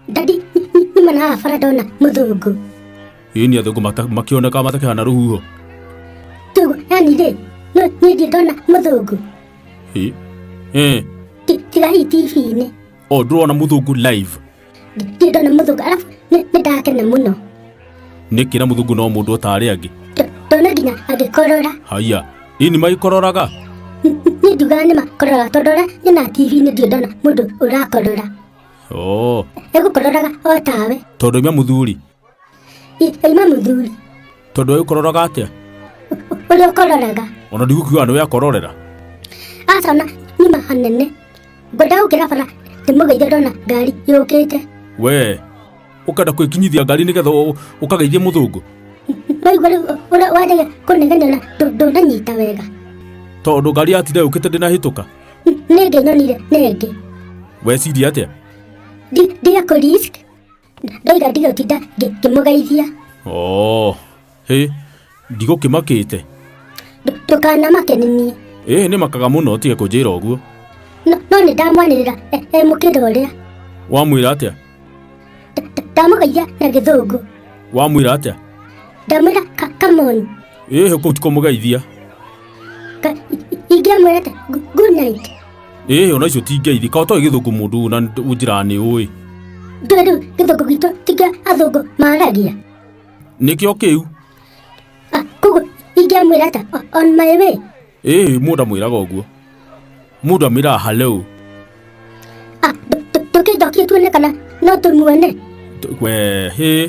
Daddy, nĩma na bara ndona mũthũngũ. Ĩni athũngũ mata- makĩoneka matakĩhana rũhuho. Tugo, yani rĩ, no niĩ ndiĩ ndona mũthũngũ. Ĩ. Ĩ. Ti- Tiga hii TV-inĩ. O ndũrona mũthũngũ live. ndona mũthũngũ arabu nĩ ndakena mũno nĩ kĩra mũthũngũ no mũndũ otarĩ angĩ ndona nginya agĩkorora haiya ini magĩkororaga niĩ ndugaga nĩ makororaga tondũ ũrĩa nyona tv-inĩ ndirĩ ndona mũndũ ũrakorora egũkororaga o tawe tondũ imwe mũthuri Ima mũthuri, tondå å kororaga atä ũrĩa ũkororaga. ona ndigukiuga nä we akororera Aca na ima hanene. Ngwenda gũkĩra bara ndĩmũgeithie ndona ngari yũkĩte. we å kenda kwä kinyithia ngari nä getha å- å kageithie må thå ngå Waigua rĩu ũrĩa wanjagia kũnegenia na ndũ- ndũnanyita wega. tondå ngari yatinde yå kä te ndä nahä tå ka Nĩngĩ nyonire nĩngĩ. weciria atä Ndi- Ndiga kũ risk ndaiga ndigũtinda ngĩ- ngĩmũgeithia oo hĩ ndigũkĩmakĩte Ndũ- ndũkanamake nĩ niĩ ĩĩ nĩ makaga mũno ũtige kũnjĩra ũguo no no nĩ ndamwanĩrĩra e- e mũkĩra ũrĩa wamwĩra atĩa Nda- nda- ndamũgeithia na gĩthũngũ wamwĩra atĩa ndamwĩra ka- come on ĩĩ kũu ti kũmũgeithia Ka- i- i- ingĩamwĩra atĩ gu- good night ĩĩ ona icio ti ngeithi ka ũtoĩ gĩthũngũ mũndũ na nĩ- njĩra nĩ ũĩ ndoĩ rĩu gĩthũngũ gitũ ti kĩa athũngũ maaragia nĩkĩo kĩu Ah, koguo ingĩamwĩra atĩ o- on my way ĩĩ mũndũ amwĩraga ũguo mũndũ amwĩraga hallo Ah, tũ- tũ- tũkĩnjokie tuone kana no tũmuone T- we hĩ